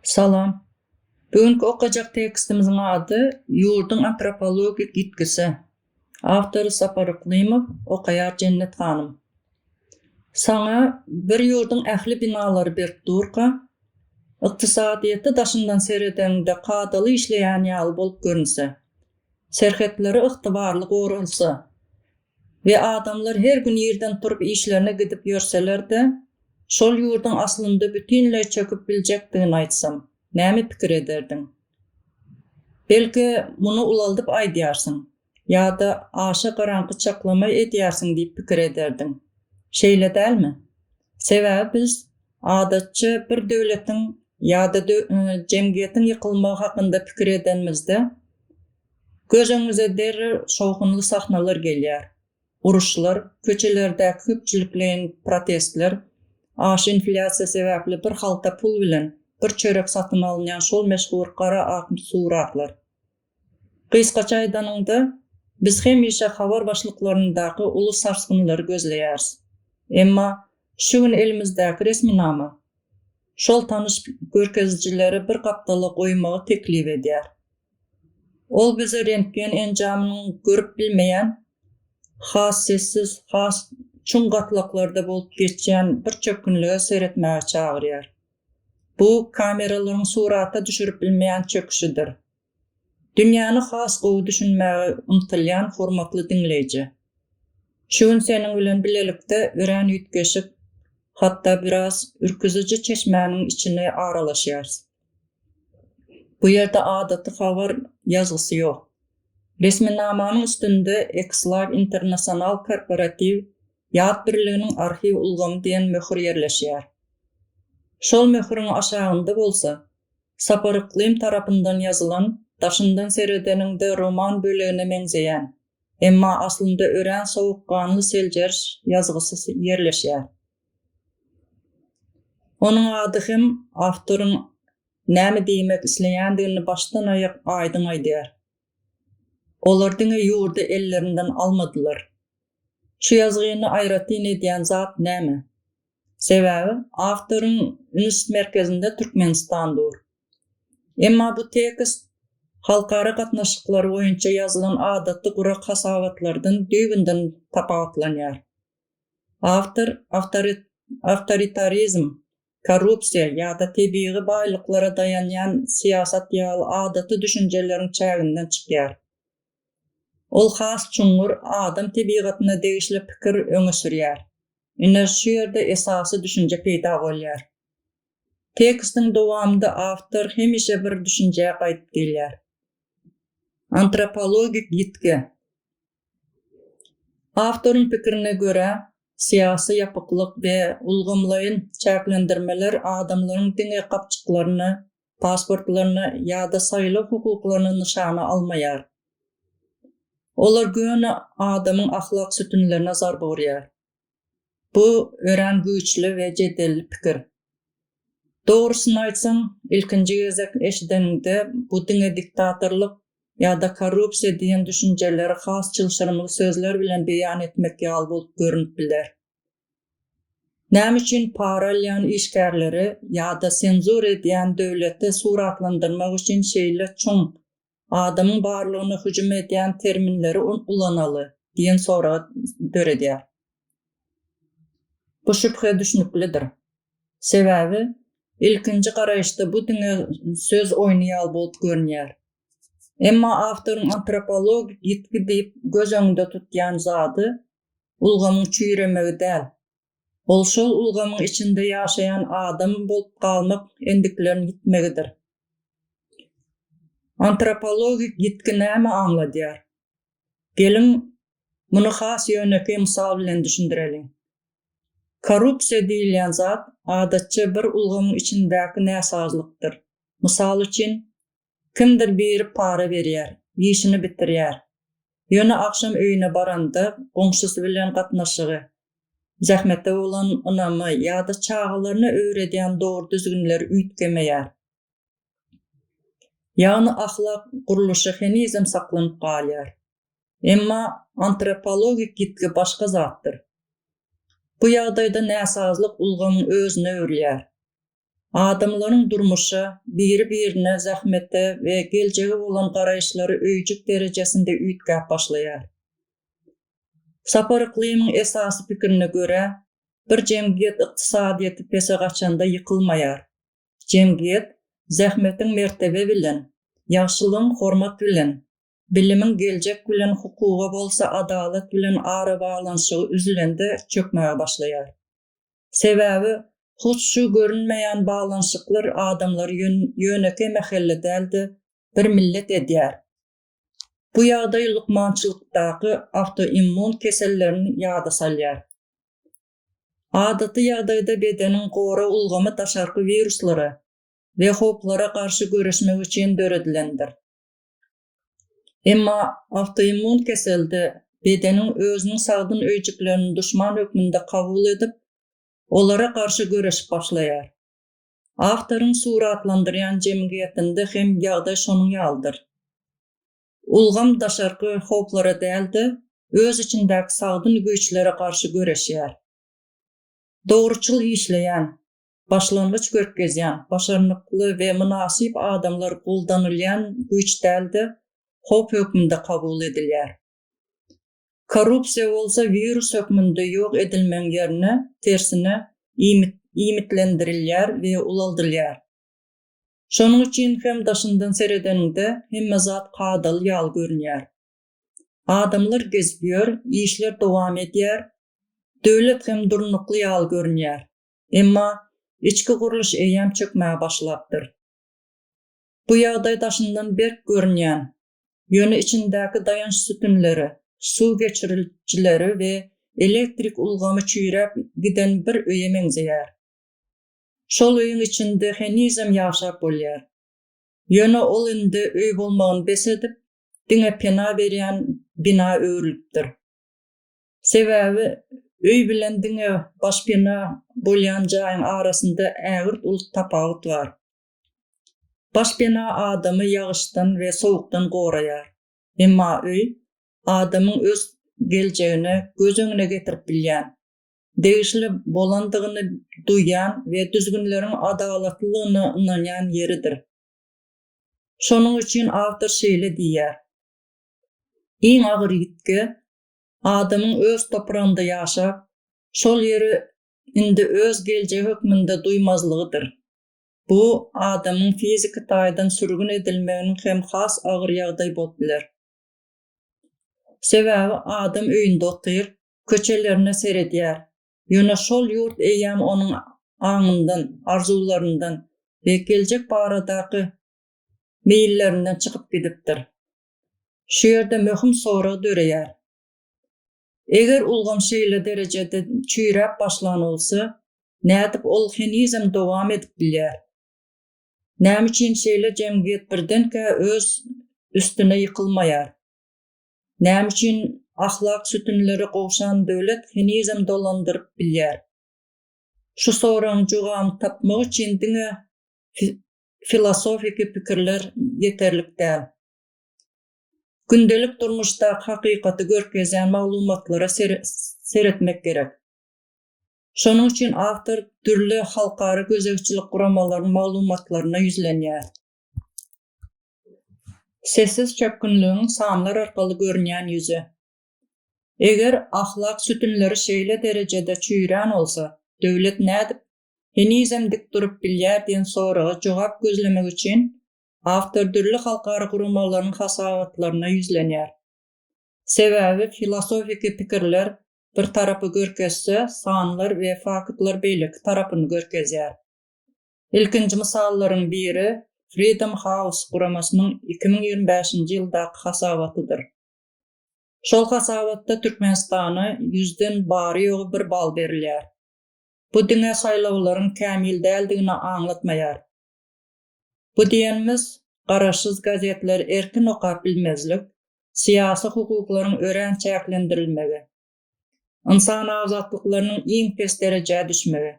Salam. Bu günki okajak tekstimiziň ady Ýurduň antropologik ýitgisi. Awtory Sapar Yklymow, okaýar Jennet hanym. Saňa bir ýurduň ähli binalary berk durka, ykdysadyýeti daşyndan seredeňde kadaly işleýän ýaly bolup görünse, serhetleri ygtybarly goralsa, We adamlar her gün ýerden turup işlerine gidip ýörseler-de, şol ýurduň aslynda bütinleý çöküp biljekdigini aýtsam, näme pikir ederdiň? Belki, muny ulaldyp aýdýarsyň, ýa-da aşa garaňky çaklama edýärsiň diýip pikir ederdiň. Şeýle dälmi? Sebäbi biz, adatça, bir döwletiň ýa-da jemgyýetiň ýykylmagy hakynda pikir edenimizde, Göz öňüňize derrew şowhunly sahnalar gelýär, uruşlar, köçelerdäki köpçülikleýin protestler, aşy inflýasiýa sebäpli bir halta pul bilen bir çörek satyn alynýan şol meşhur gara-ak suratlar. Gysgaça aýdanyňda, biz hemişe habar başlyklaryndaky uly sarsgynlary gözleýäris. Emma şu gün elimizdäki resminama şol tanyş görkezijileri bir gapdala goýmagy teklip edýär. Ol bize rentgen enjamynyň görüp bilmeýän, has sessiz, has çuň gatlaklarda bolup geçýän bir çökgünlige seretmäge çagyrýar. Bu kameralaryň surata düşürip bilmeýän çöküşidir. Dünýäni has gowy düşünmäge ymtylýan hormatly diňleýji! Şu gün seniň bilen bilelikde örän üýtgeşik, hatda biraz ürküziji çeşmäniň içine aralaşýarys. Bu ýerde adaty habar ýazgysy ýok. Resminamanyň üstünde X-Live International Korporatiw ýat birliginiň arhiw ulgamy diýen möhür ýerleşýär. Şol möhüriň aşagynda bolsa Sapar Yklym tarapyndan ýazylan daşyndan seredeniňde roman bölegine meňzeýän, emma aslynda örän sowukganly seljeriş ýazgysy ýerleşýär. Onuň ady hem awtoryň näme diýmek isleýändigini başdan-aýak aýdyň aýdýar. Olar diňe ýurdy ellerinden almadylar. Şu ýazgyny aýratyn edýän zat näme? Sebäbi awtoryň üns merkezinde Türkmenistan dur. Emma bu tekst halkara gatnaşyklary boýunça ýazylan adaty gurak hasabatlardan düýbünden tapawutlanýar. Awtor awtoritarizm, korrupsiýa ýa-da tebigy baýlyklara daýanýan syýasat ýaly adaty düşünjeleriň çäginden çykýar. Ol has çuňňur adam tebigatyna degişli pikir öňe sürýär. Ine, şu ýerde esasy düşünje peýda bolýar. Tekstiň dowamynda awtor hemişe bir düşünjä gaýdyp gelýär. Antropologik ýitgi. Awtoryň pikirine görä, syýasy ýapyklyk we ulgamlaýyn çäklendirmeler adamlaryň diňe gapjyklaryny, pasportlaryny ýa-da saýlaw hukuklaryny nyşana almaýar. Olar göni adamyň ahlak sütünlerine zarba urýar. Bu örän güýçli we jedelli pikir. Dogrusyny aýtsaň, ilkinji gezek eşideniňde bu diňe diktatorlyk ýa-da korrupsiýa diýen düşünjeleri has çylşyrymly sözler bilen beýan etmek ýaly bolup görnüp biler. Näme üçin para alýan işgärleri ýa-da senzura edýän döwleti suratlandyrmak üçin şeýle çuň Adamyň barlygyna hüjüm edýän terminleri ulanaly diýen sorag döredýär. Bu şübhe düşnüklidir. Sebäbi, ilkinji garaýyşda bu diňe söz oýny ýaly bolup görünýär. Emma awtoryň antropologik ýitgi diýip göz öňünde tutýan zady ulgamyň çüýremegi däl, Ol şol ulgamyň içinde ýaşaýan adam bolup galmak endiklerini ýitmegidir. Antropologik ýitgi näme aňladýar? Geliň, muny has ýönekeý mysal bilen düşündireliň. Korrupsiýa diýilýän zat adatça bir ulgamyň içindäki näsazlykdyr. Mysal üçin, Kimdir biri para berýär, işini bitirýär. Ýöne agşam öýüne baranda goňşusy bilen gatnaşygy, zähmete bolan ynamy ýa-da çagalaryna öwredýän dogry-düzgünleri üýtgemeýär. Ýagny ahlak gurluşy henizem saklanyp galýar. Emma antropologik ýitgi başga zatdyr. Bu ýagdaýda näsazlyk ulgamyň özüne öwrülýär. Adamlaryň durmuşa, biri-birine, zähmete we geljege bolan garaýyşlary öýjük derejesinde üýtgäp başlaýar. Sapar Yklymyň esasy pikirine görä, bir jemgyýet ykdysadyýeti pese gaçanda ýykylmaýar. Jemgyýet zähmetiň mertebe bilen, ýagşylygyň hormat bilen, bilimiň geljek bilen, hukuga bolsa adalat bilen arabaglanyşygy üzülende çökmäge başlaýar. Sebäbi hut şu görünmeýän baglanyşyklar adamlary ýönekeý mähelle däl-de, bir millet edýär. Bu ýagdaý lukmançylykdaky awtoimmun kesellerini ýada salýar. Adaty ýagdaýda bedeniň gorag ulgamy daşarky wiruslara we howplara garşy göreşmek üçin döredilendir. Emma awtoimmun keselde bedeniň özüniň sagdyn öýjüklerini duşman hökmünde kabul edip, olara garşy göreşip başlaýar. Awtoryň suratlandyrýan jemgyýetinde hem ýagdaý şonuň ýalydyr. Ulgam daşarky howplara däl-de, öz içindäki sagdyn güýçlere garşy göreşýär. Dogruçyl işleýän, başlangyç görkezýän, başarnykly we mynasyp adamlar goldanylýan güýç däl-de, howp hökmünde kabul edilýär. Korrupsiýa bolsa wirus hökmünde ýok edilmegiň ýerine, tersine, iýmitlendirilýär we ulaldylýar. Şonuň üçin hem daşyndan seredeniňde hemme zat kadaly ýaly görünýär. Adamlar gezip ýör, işler dowam edýär, döwlet hem durnukly ýaly görünýär. Emma içki gurluş eýýäm çökmäge başlapdyr. Bu ýagdaý daşyndan berk görünýän, ýöne içindäki daýanç sütünleri, suw geçirijileri we elektrik ulgamy çüýräp giden bir öýe meňzeýär. Şol öýüň içinde henizem ýaşap bolýar. Ýöne ol indi öý bolmagyny bes edip, diňe pena berýän bina öwrülipdir. Sebäbi öý bilen diňe başpena bolýan jaýyň arasynda ägirt uly tapawut bar. Başpena adamy ýagyşdan we sowukdan goraýar. Emma öý, adamyň öz geljegini göz öňüne getirip bilýän, degişli bolandygyny duýýan we düzgünleriň adalatlylygyna ynanýan ýeridir. Şonuň üçin awtor şeýle diýýär, Iň agyr ýitgi, adamyň öz topragynda ýaşap, şol ýeri indi öz geljegi hökmünde duýmazlygydyr. Bu, adamyň fiziki taýdan sürgün edilmeginiň hem has agyr ýagdaý bolup biler. Sebäbi adam öýünde otyr, köçelerine seredýär, ýöne şol ýurt eýýäm onuň aňyndan, arzuwlaryndan we geljek baradaky meýillerinden çykyp gidipdir. Şu ýerde möhüm sorag döreýär. Eger ulgam şeýle derejede çüýräp başlan bolsa, nädip ol henizem dowam edip bilýär? Näme üçin şeýle jemgyýet birdenkä öz üstüne ýykylmaýar? Näme üçin ahlak sütünleri gowşan döwlet henizem dolandyryp bilýär? Şu soragyň jogabyny tapmak üçin diňe filosofiki pikirler ýeterlik däl. Gündelik durmuşdaky hakykaty görkezýän maglumatlara seretmek gerek. Şonuň üçin awtor dürli halkara gözegçilik guramalarynyň maglumatlaryna ýüzlenýär. Sessiz çökgünligiň sanlar arkaly görünýän ýüzi. Eger ahlak sütünleri şeýle derejede çüýrän bolsa, döwlet nädip henizem dik durup bilýär diýen soraga jogap gözlemek üçin awtor dürli halkara guramalarynyň hasabatlaryna ýüzlenýär. Sebäbi filosofiki pikirler bir tarapy görkezse, sanlar we faktlar beýleki tarapyny görkezýär. Ilkinji mysallaryň biri Freedom House guramasynyň iki müň ýigrimi bäşinji ýyldaky hasabatydyr. Şol hasabatda Türkmenistana ýüzden bary-ýogy bir bal berilýär. Bu diňe saýlawlaryň kämil däldigini aňlatmaýar. Bu diýenimiz, garaşsyz gazetleri erkin okap bilmezlik, syýasy hukuklaryň örän çäklendirilmegi, ynsan azatlyklarynyň iň pes derejä düşmegi,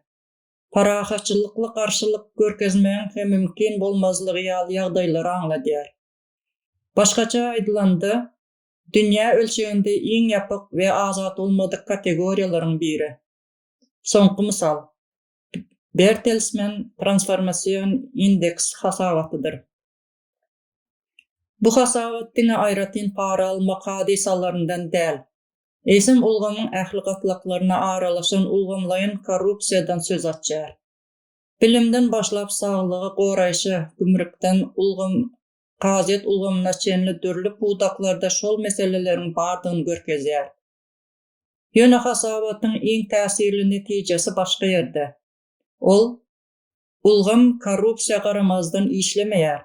parahatçylykly garşylyk görkezmegiň hem mümkin bolmazlygy ýaly ýagdaýlary aňladýar. Başgaça aýdylanda, dünýä ölçeginde iň ýapyk we azat bolmadyk kategoriýalaryň biri. Soňky mysal, Bertelsmen transformasion indeks hasabatydyr. Bu hasabat diňe aýratyn para almak hadysalaryndan däl, eýsem ulgamyň ähli gatlaklaryna aralaşan ulgamlaýyn korrupsiýadan söz açýar. Bilimden başlap saglygy goraýşa, gümrükden ulgam kazyýet ulgamyna çenli dürli pudaklarda şol meseleleriň bardygyny görkezýär. Ýöne hasabatyň iň täsirli netijesi başga ýerde. Ol, Ulgam korrupsiýa garamazdan işlemeýär,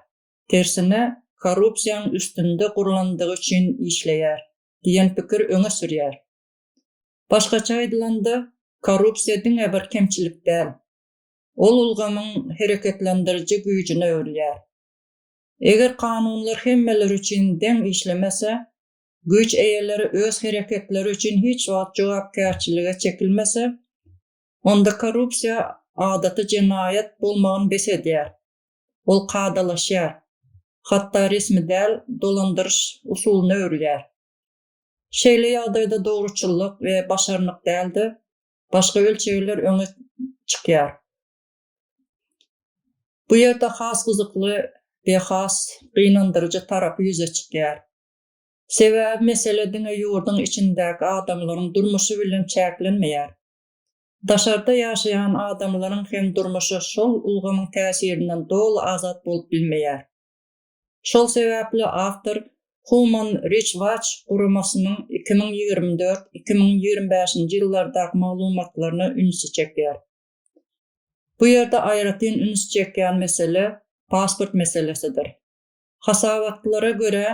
tersine korrupsiýaň üstünde gurlandygy üçin işleýär diýen pikir öňe sürýär. Başgaça aýdylanda, korrupsiýa diňe bir kemçilik däl. Ol ulgamyň hereketlendiriji güýjüne öwrülýär. Eger kanunlar hemmeler üçin deň işlemese, Güýç eýeleri öz hereketleri üçin hiç wagt jogapkärçilige çekilmese, onda korrupsiýa adaty jenaýat bolmagyny bes edýär, ol kadalaşýar, hatda resmi däl dolandyryş usulyna öwrülýär. Şeýle ýagdaýda dogruçyllyk we başarnyk däl-de, başga ölçegler öňe çykýar. Bu ýerde has gyzykly we has gynandyryjy tarapy ýüze çykýar. Sebäbi mesele diňe ýurduň içindäki adamlaryň durmuşy bilen çäklenmeýär. Daşarda ýaşaýan adamlaryň hem durmuşy şol ulgamyň täsirinden doly azat bolup bilmeýär. Şol sebäpli awtor Human Rights Watch guramasynyň iki müň ýigrimi dört, iki müň ýigrimi bäşinji ýyllardaky maglumatlaryna ünsi çekýär. Bu ýerde aýratyn üns çekýän mesele pasport meselesidir. Hasabatlara görä,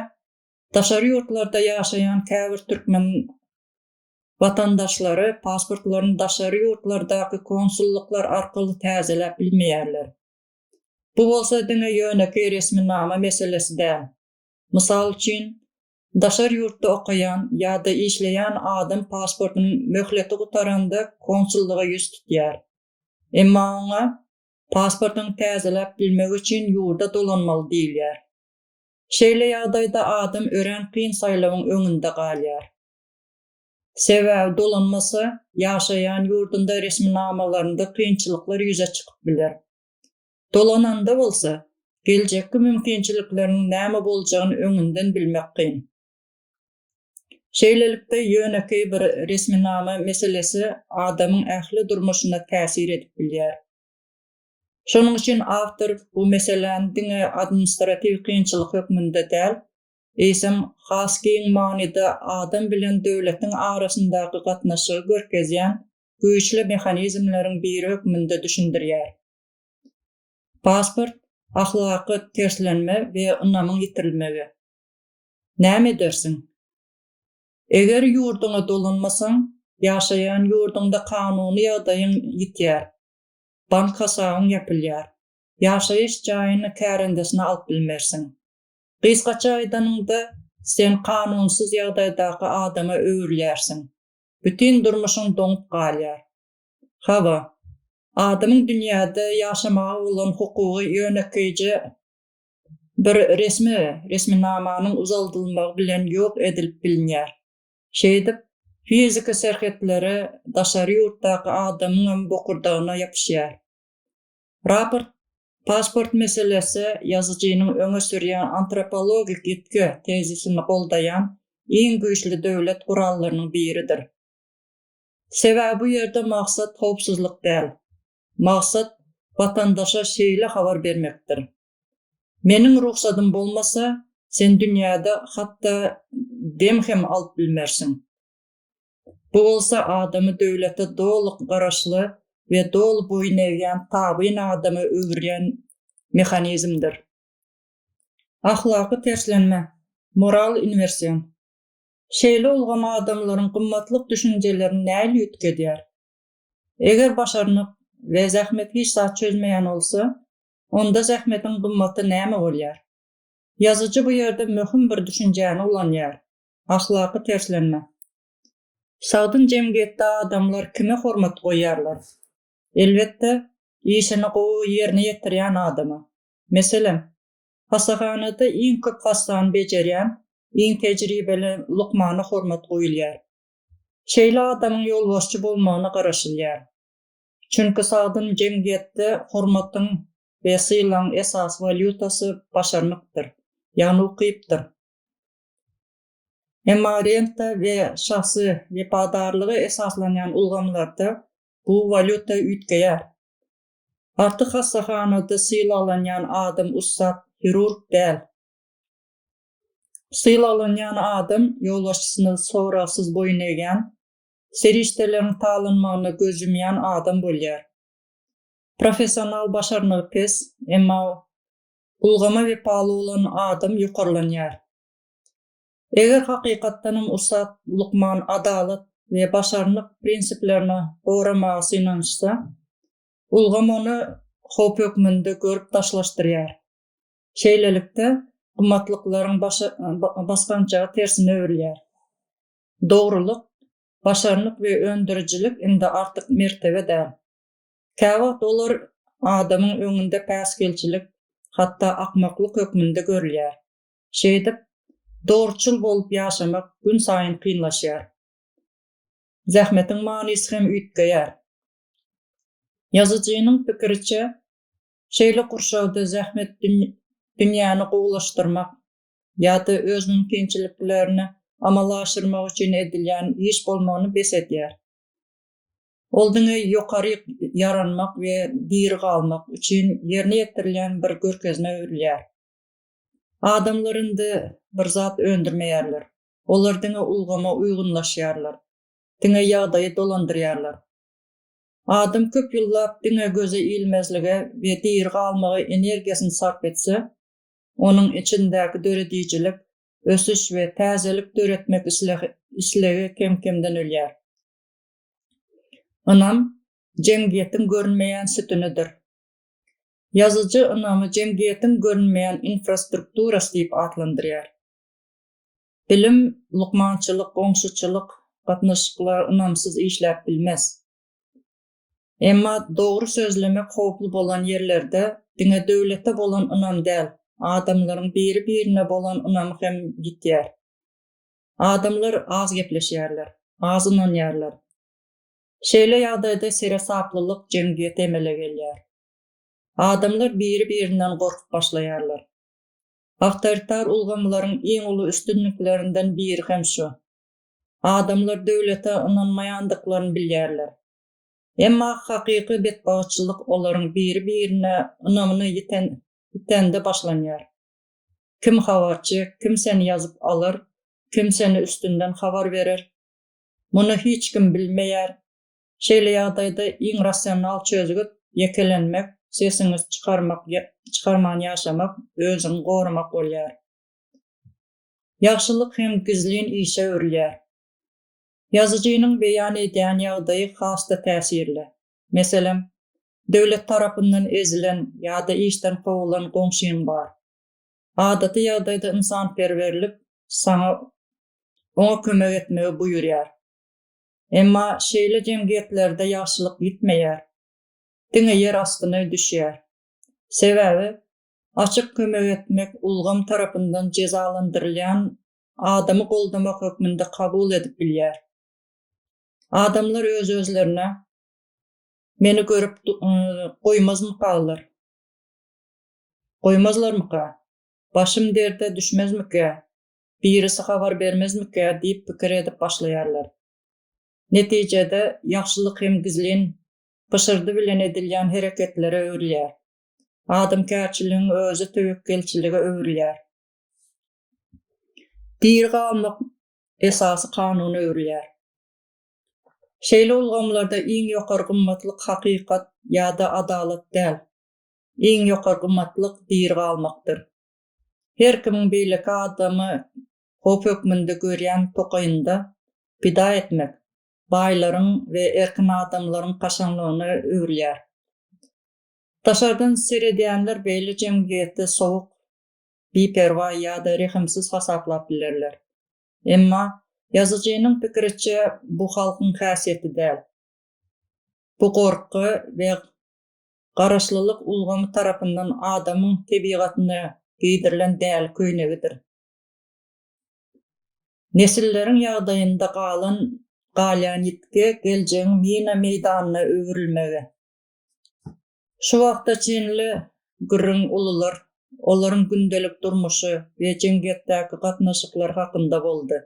daşary ýurtlarda ýaşaýan käbir türkmen watandaşlary pasportlaryny daşary ýurtlardaky konsullyklar arkaly täzeläp bilmeýärler. Bu bolsa diňe ýönekeý resminama meselesi däl. Mysal üçin, daşary ýurtda okaýan ýa-da işleýän adam pasportynyň möhleti gutaranda konsullyga ýüz tutýar. Emma oňa Pasportyňy täzeläp bilmek üçin ýurda dolanmaly diýilýär. Şeýle ýagdaýda adam örän kyn saýlawyň öňünde galýar. Sebäbi dolanmasa, ýaşaýan ýurdunda resminamalarynda kynçylyklar ýüze çykyp biler. Dolananda bolsa, geljekki mümkinçilikleriňiň näme boljagyny öňünden bilmek kyn. Şeýlelikde, ýönekeý bir resminama meselesi adamyň ähli durmuşyna täsir edip bilýär. Şonuň üçin awtor bu meseläni diňe administratiw kynçylyk hökmünde däl, eýsem, has giň manyda adam bilen döwletiň arasyndaky gatnaşygy görkezýän güýçli mehanizmleriň biri hökmünde düşündirýär. Pasport, ahlaky terslenme we ynamyň ýitirilmegi. Näme edersiň? Eger ýurduňa dolanmasaň, ýaşaýan ýurduňda kanuny ýagdaýyň ýitýär, bank hasabyň ýapylýar, ýaşaýyş jaýyny kärendesine alyp bilmersiň. Gysgaça aýdanyňda, sen kanunsyz ýagdaýdaky adama öwrülýärsiň. Bütin durmuşyň doňup galýar. Hawa, adamyň dünýäde ýaşamaga bolan hukugy ýönekeýje bir resmi, resminamanyň uzaldylmagy bilen ýok edilip bilinýär. Şeýdip, fiziki serhetleri daşary ýurtdaky adamyňam bokurdagyna ýapyşýar. Raport, pasport meselesi ýazyjynyň öňe sürýän antropologik ýitgi tezisini goldaýan iň güýçli döwlet gurallarynyň biridir. Sebäbi bu ýerde maksat howpsuzlyk däl, Maksat watandaşa şeýle habar bermekdir. Meniň rugsadym bolmasa, sen dünýäde hatda dem hem alyp bilmersiň. Bu bolsa adamy döwlete doly garaşly we doly boýun egýän tabyn adama öwürýän mehanizmdir. Ahlaky terslenme, moral inwersion. Şeýle ulgam adamlaryň gymmatlyk düşünjelerini nähili üýtgedýär? Eger başarnyk we zähmet hiç zat çözmeýän bolsa, onda zähmetiň gymmaty näme bolýar? Ýazyjy bu ýerde möhüm bir düşünjäni ulanýar, ahlaky terslenme. Sagdyn jemgyýetde adamlar kime hormat goýýarlar? Elbetde, işini gowy ýerine ýetirýän adama. Meselem, hassahanada iň köp hassany bejerýän, iň tejribeli lukmana hormat goýulýar. Şeýle adamyň ýolbaşçy bolmagyna garaşylýar. Çünki sagdyn jemgyýetde hormatyň we sylagyň esasy walýutasy başarnykdyr, ýagny ukypdyr. Emma renta we şahsy wepadarlyga esaslanýan ulgamlarda bu walýuta üýtgeýär. Artyk hassahanada sylaglanýan adam ussat hirurg däl. Sylaglanýan adam ýolbaşçysyny soragsyz boýun egýän, serişdeleriň talanmagyna göz ýumýan adam bolýar. Professional başarnygy pes, emma ulgama wepaly bolan adam ýokarlanýar. Eger hakykatdanam ussat lukman adalat we başarnyk prinsiplerini goramaga synanyşsa, ulgam ony howp hökmünde görüp daşlaşdyrýar. Şeýlelikde, gymmatlyklaryň basgançagy tersine öwrülýär. Dogrulyk, başarnyk we öndürijilik indi artyk mertebe däl. Käwagt olar adamyň öňünde päsgelçilik, hatda akmaklyk hökmünde görülýär. Şeýdip, dogruçyl bolup ýaşamak günsaýyn kynlaşýar. Zähmetiň manysy hem üýtgeýär. Ýazyjynyň pikiriçe, Şeýle gurşawda zähmet dünýäni gowulaşdyrmak ýa-da öz mümkinçiliklerini amala aşyrmak üçin edilýän iş bolmagyny bes edýär. Ol diňe ýokaryk ýaranmak we diri galmak üçin ýerine ýetirilýän bir görkezmä öwrülýär. Adamlar indi bir zat öndürmeýärler. Olar diňe ulgama uýgunlaşýarlar, diňe ýagdaýy dolandyrýarlar. Adam köp ýyllap diňe göze ilmezlige we diri galmaga energiýasyny sarp etse, onuň içindäki döredijilik, ösüş we täzelik döretmek islegi kem-kemden ölýär. Ynam jemgyýetiň görünmeýän sütünidir. Ýazyjy ynamy jemgyýetiň görünmeýän infrastrukturasy diýip atlandyrýar. Bilim, lukmançylyk, goňşuçylyk, gatnaşyklar ynamsyz işläp bilmez. Emma dogry sözlemek howply bolan ýerlerde diňe döwlete bolan ynam däl, adamlaryň biri-birine bolan ynamy hem ýitýär. Adamlar az gepleşýärler, az ynanýarlar. Şeýle ýagdaýda seresaplylyk jemgyýeti emele gelýär. Adamlar biri-birinden gorkup başlaýarlar. Awtoritar ulgamlaryň iň uly üstünliklerinden biri hem şu. Adamlar döwlete ynanmaýandyklaryny bilýärler. Emma hakyky betbagtçylyk olaryň biri-birine ynamyny ýitende başlanýar. Kim habarçy, kim seni ýazyp alar, kim seni üstünden habar berer? Muny hiç kim bilmeýär, Şeýle ýagdaýda iň rasional çözgüt, ýekelenmek, sesiňizi çykarmak, çykarman ýaşamak, özüňi goramak bolýar. Ýagşylyk hem gizlin işe öwrülýär. Ýazyjynyň beýan edýän ýagdaýy has-da täsirli. Meselem, döwlet tarapyndan ezilen ýa-da işden kowulan goňşyň bar. Adaty ýagdaýda ynsanperwerlik saňa oňa kömek etmegi buýurýar. Emma şeýle jemgyýetlerde ýagşylyk ýitmeýär, diňe ýer astyna düşýär. Sebäbi, açyk kömek etmek ulgam tarapyndan jezalandyrylýan adamy goldamak hökmünde kabul edip bilýär. Adamlar öz-özlerine, Meni görüp goýmazmykalar? Goýmazlarmyka? Başym derde düşmezmikä? birisi habar bermezmikä diýip pikir edip başlaýarlar. Netijede, ýagşylyk hem gizlin, pyşyrdy bilen edilýän hereketlere öwrülýär. Adamkärçiligiň özi töwekgelçilige öwrülýär. Diri galmak esasy kanuna öwrülýär. Şeýle ulgamlarda iň ýokary gymmatlyk hakykat ýa-da adalat däl. Iň ýokary gymmatlyk diri galmakdyr. Her kimiň beýleki adamy howp hökmünde görýän tokaýynda pida etmek baýlaryň we erkin adamlaryň kaşaňlygyna öwrülýär. Daşardan seredýänler beýle jemgyýeti sowuk, biperwa ýa-da rehimsiz hasaplap bilerler. Emma, ýazyjynyň pikiriçe, bu halkyň häsiýeti däl. Bu gorky we Garaşlylyk ulgamy tarapyndan adamyň tebigatyna geýdirilen däli köýnegidir. Nesilleriň ýagdaýynda galan, galýan ýitgi geljegiň mina meýdanyna öwrülmegi. Şu wagta çenli gürrüň ulular, olaryň gündelik durmuşy we jemgyýetdäki gatnaşyklary hakynda boldy.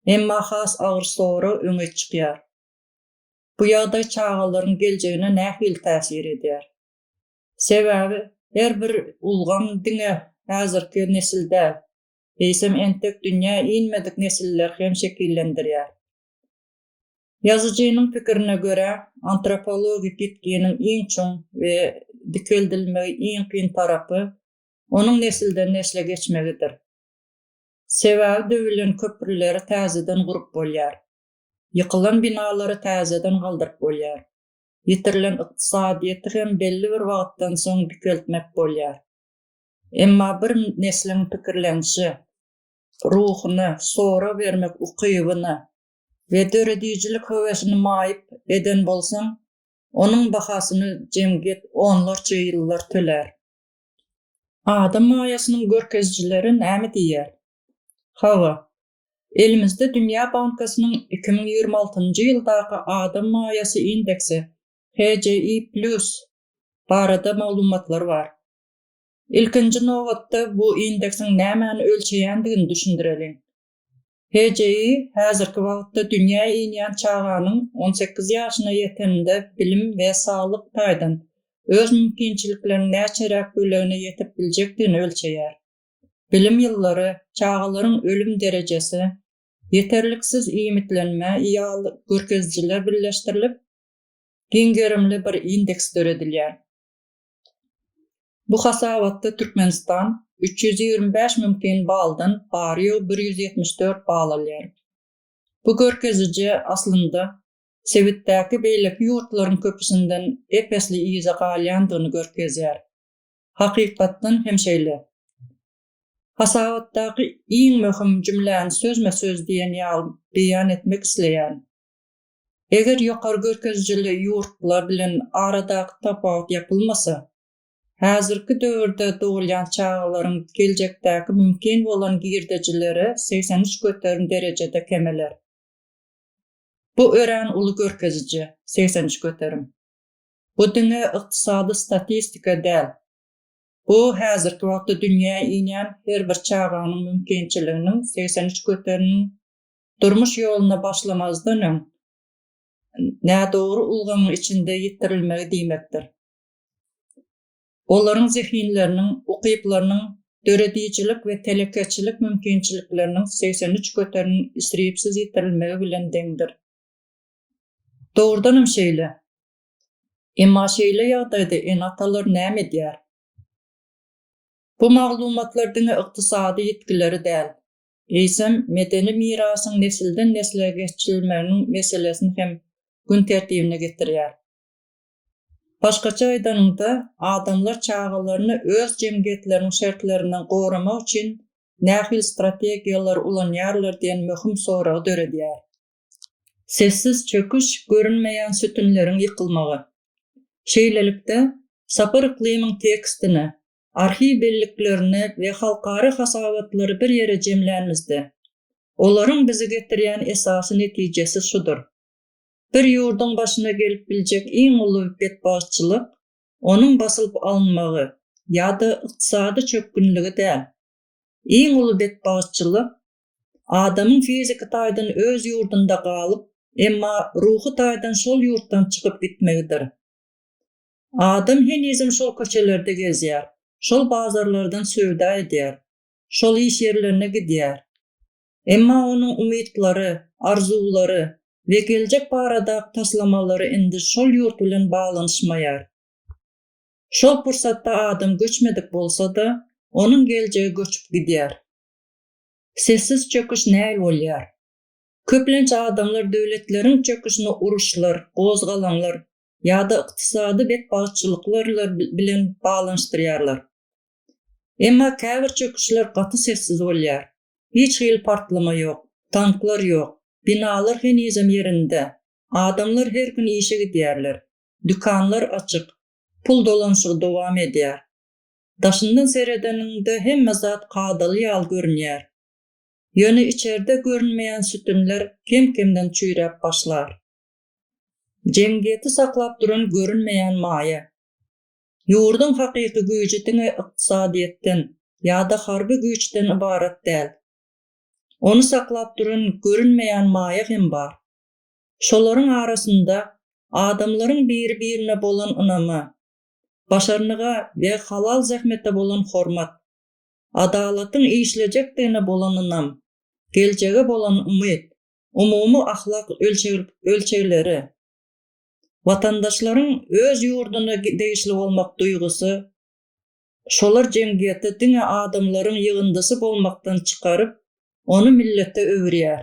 Emma has agyr sorag öňe çykýar. Bu ýagdaý çagalaryň geljegine nähili täsir edýär? Sebäbi her bir ulgam diňe häzirki nesil däl, eýsem entek dünýä inmedik nesilleri hem şekillendirýär. Ýazyjynyň pikirine görä, antropologik ýitginiň iň çuň we dikeldilmegi iň kyn tarapy onuň nesilden-nesle geçmegidir. Sebäbi döwülen köprüleri täzeden gurup bolýar. Ýykylan binalary täzeden galdyryp bolýar. Ýitirilen ykdysadyýeti hem belli bir wagtdan soň dikeltmek bolýar. Emma bir nesliň pikirlenişe, ruhuna, sorag bermek ukybyna we döredijilik höwesini maýyp eden bolsaň, onuň bahasyny jemgyýet onlarça ýyllar tölär. Adam maýasynyň görkezijileri näme diýýär? Hawa, Elimizde Dünýä bankasynyň iki müň ýigrimi altynjy ýyldaky adam maýasy indeksi, HJI Plus, barada maglumatlar bar. Ilkinji nobatda bu indeksiň nämäni ölçeýändigini düşündireliň. HJI häzirki wagtda dünýä inýän çaganyň on sekiz ýaşyna ýeteninde bilim we saglyk taýdan öz mümkinçilikleriniň näçeräk bölegine ýetip biljekdigini ölçeýär. bilim ýyllary, çagalaryň ölüm derejesi, ýeterliksiz iýmitlenme ýaly görkezijiler birleşdirilip, giň gerimli bir indeks döredilýär. Bu hasabatda Türkmenistan üç ýüz ýigrimi bäş mümkin baldan bary-ýogy bir ýüz ýetmiş dört bal alýar. Bu görkeziji, aslynda, sebitdäki beýleki ýurtlaryň köpüsinden ep-esli yza galýandygyny görkezýär. Hakykatdan hem şeýle. Hasabatdaky iň möhüm jümläni sözme-söz diýen ýaly beýan etmek isleýän. Eger ýokary görkezijili ýurtlar bilen aradaky tapawut ýapylmasa, häzirki döwürde dogulýan çagalaryň geljekdäki mümkin bolan girdejileri segsen üç göterim derejede kemeler. Bu örän uly görkeziji, segsen üç göterim. Bu diňe ykdysady statistika däl. Bu häzirki wagtda dünýä inýän her bir çaganyň mümkinçiliginiň segsen üç göterini durmuş ýoluna başlamazdan öň nädogry ulgamyň içinde ýitirilmegi diýmekdir. Olaryň zehinleriniň, ukyplarynyň, döredijilik we telekeçilik mümkinçilikleriniň segsen üç göterini isripsiz ýitirilmegi bilen deňdir. Dogrudanam şeýle. Emma şeýle ýagdaýda ene-atalar näme edýär? Bu maglumatlar diňe ykdysady ýitgileri däl, eýsem, medeni mirasyň nesilden-nesle geçirilmeginiň meselesini hem gün tertibine getirýär. Başgaça aýdanyňda, adamlar çagalaryny öz jemgyýetleriniň şertlerinden goramak üçin nähili strategiýalary ulanýarlar diýen möhüm soragy döredýär. Sessiz çöküş, görünmeýän sütünleriň ýykylmagy. Şeýlelikde, Sapar Yklymyň tekstine, arhiw belliklerine we halkara hasabatlary bir ýere jemlänimizde, olaryň bizi getirýän esasy netijesi şudur, bir ýurduň başyna gelip biljek iň uly betbagtçylyk onuň basylyp alynmagy ýa-da ykdysady çökgünligi däl, Iň uly betbagtçylyk, adamyň fiziki taýdan öz ýurdunda galyp, emma ruhy taýdan şol ýurtdan çykyp gitmegidir. Adam henizem şol köçelerde gezýär, şol bazarlardan söwda edýär, şol iş ýerlerine gidýär. Emma onuň umytlary, arzuwlary we geljek baradaky taslamalary indi şol ýurt bilen baglanyşmaýar. Şol pursatda adam göçmedik bolsa-da, onuň geljegi göçüp gidýär. Sessiz çöküş näl bolýar? Köplenç adamlar döwletleriň çöküşini uruşlar, gozgalaňlar ýa-da ykdysady betbagtçylyklar bilen baglanyşdyrýarlar. Emma käbir çöküşler gaty sessiz bolýar. Hiç hili partlama ýok, tanklar ýok, binalar henizem ýerinde, adamlar her gün işe gidýärler, Dükanlar açyk, pul dolanyşygy dowam edýär. Daşyndan seredeniňde hemme zat kadaly ýaly görünýär. Ýöne içerde görünmeýän sütünler kem-kemden çüýräp başlar. Jemgyýeti saklap duran görünmeýän maýa. Ýurduň hakyky güýji diňe ykdysadyýetden ýa-da harby güýçden ybarat däl. Ony saklap duran görünmeýän maýa hem bar. Şolaryň arasynda adamlaryň biri-birine bolan ynamy, başarnyga we halal zähmete bolan hormat, adalatyň işlejekdigine bolan ynam, geljege bolan umyt, umumy ahlak ölçegleri, watandaşlaryň öz ýurduna degişli bolmak duýgusy, şolar jemgyýeti diňe adamlaryň ýygyndysy bolmakdan çykaryp, ony millete öwürýär.